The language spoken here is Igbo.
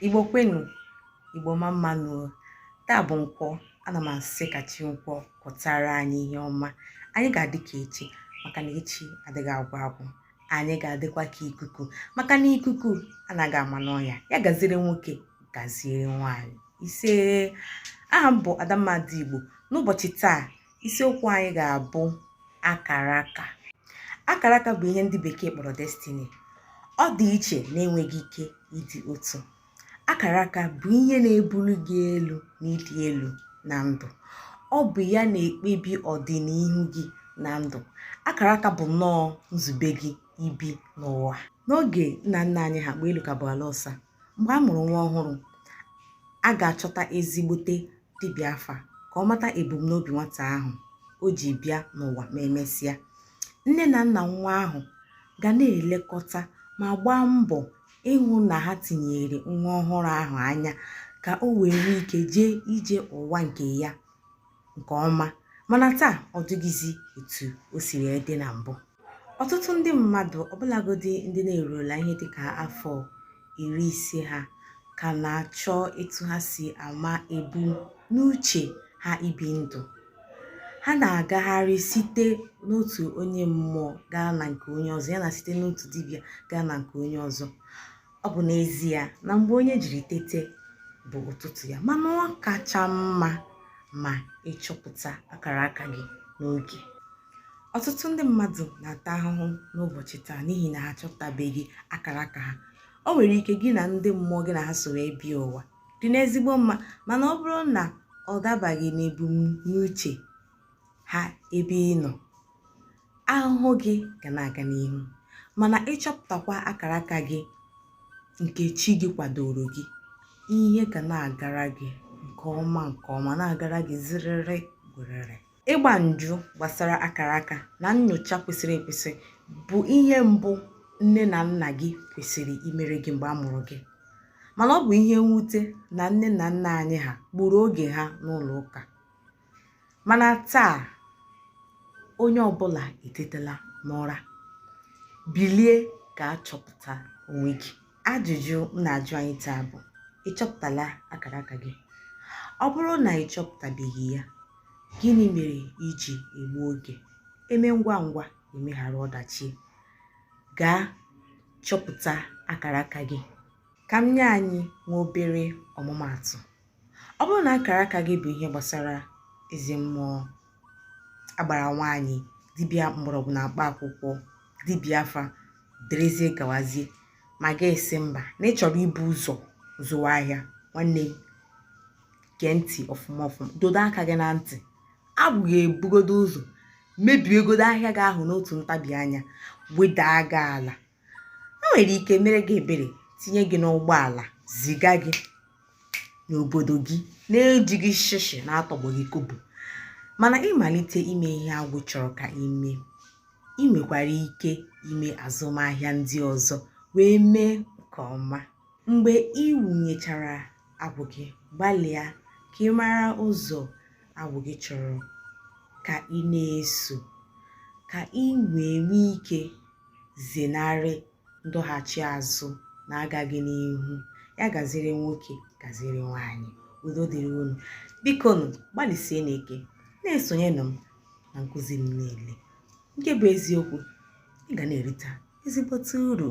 igbo kwenu igbo mma mma nụ o taa bụ nkwọ ana m asị ka chi nkwọ kwọtara anyị ihe ọma anyị ga-adị ka echi maka na echi adịghị agwụ agwụ anyị ga-adịkwa ka ikuku maka na ikuku anaghị ama n'ọnya ya gaziere nwoke gaziere nwaanyị isee aha m bụ adamma ndị igbo n'ụbọchị taa isiokwu anyị ga-abụ akara aka akara aka bụ ihe ndị bekee kpọrọ destiny ọ dị iche na-enweghị ike ịdị otu akara aka bụ ihe na-ebuli gị elu n'ịdị elu na ndụ ọ bụ ya na-ekpebi ọdịnihu gị na ndụ akara aka bụ nnọọ nzube gị ibi n'ụwa n'oge nna nna anyị ha gboo elu ka bụ ala ọsa mgbe a mụrụ nwa ọhụrụ a ga-achọta ezigbote dibịa afa ka ọ mata ebumnobi nwata ahụ o ji bịa n'ụwa ma emesịa nne na nna nwa ahụ ga na-elekọta ma gbaa mbọ ịhụ na ha tinyere nwa ọhụrụ ahụ anya ka o wee nwee ike jee ije ụwa nke ya nke ọma mana taa ọ dịghịzi etu o si wee dị na mbụ ọtụtụ ndị mmadụ ọbụlagodi ndị na-eruola ihe dịka afọ iri ise ha ka na-achọ etu ha si ama ebumnuche ha ibi ndụ ha na-agagharị site n'otu onye mmụọ gaa na nke onye ọzọ ya na site n'otu dibịa gaa na nke onye ọzọ ọ bụ n'ezie na mgbe onye jiri tete bụ ụtụtụ ya mana ọ kacha mma ma ị chọpụta akara aka gị n'oge ọtụtụ ndị mmadụ na-ata ahụhụ n'ụbọchị taa n'ihi na ha achọpụtabeghị akara aka ha o nwere ike gị na ndị mmụọ gị na ha so wee bịa ụwa dị n'ezigbo mma mana ọ bụrụ na ọ dabaghị n'ebumnuche ha ebe ị nọ ahụhụ gị ga na-aga n'ihu mana ị chọpụtakwa akara aka gị nke chi gị kwadoro gị ihe ga na-agara gị nke ọma nke ọma na-agara gị ziriri gwerere ịgba njụ gbasara akara aka na nyocha kwesịrị ekwesị bụ ihe mbụ nne na nna gị kwesịrị imere gị mgbe a mụrụ gị mana ọ bụ ihe mwute na nne na nna anyị ha gburu oge ha n'ụlọ ụka mana taa onye ọbụla etetela n'ụra bilie gaa chọpụta onwe gị ajụjụ m na-ajụ anyị taa bụ ị chọpụtala akara aka gị ọ bụrụ na ị chọpụtabeghị ya gịnị mere i ji egbu oge eme ngwa ngwa emeghara ọdachi gaa chọpụta akara aka gị ka m nye anyị nwa obere ọmụmaatụ ọ bụrụ na akara aka gị bụ ihe gbasara eze mmụọ agbara nwaanyị dibịa mgbọrọgwụ na mkpa akwụkwọ dibịa afa derezie gawazie ma gị asị mba na ị chọrọ ibu ụzọ zụwa ahịa nwanne m gee ntị ọfụma ọfụma dodo aka gị na ntị agwụ ga-ebugodo ụzọ mebiegodo ahịa gị ahụ n'otu ntabi anya wedaa gị ala o nwere ike mere gị ebere tinye gị n'ụgbọala ziga gị n'obodo gị na-ejighị shishi na-atọgbọghị kobo mana ị malite ime ihe agwụ chọrọ ka i mee ị nwekwara ike ime azụmahịa ndị ọzọ wee mee nke ọma mgbe ị wụnyechara agwụ gị gbalịa ka ị mara ụzọ agwụ gị chọrọ ka ị na-eso ka ị wee nwee ike zenarị ndọghachi azụ na agaghị n'ihu ya gaziri nwoke gaziri nwaanyị udo dịrị unu biko nụ gbalịsie n'ike na-esonyenụ m na nkụzi m niile nke bụ eziokwu ị ga na-erita ezigbote uru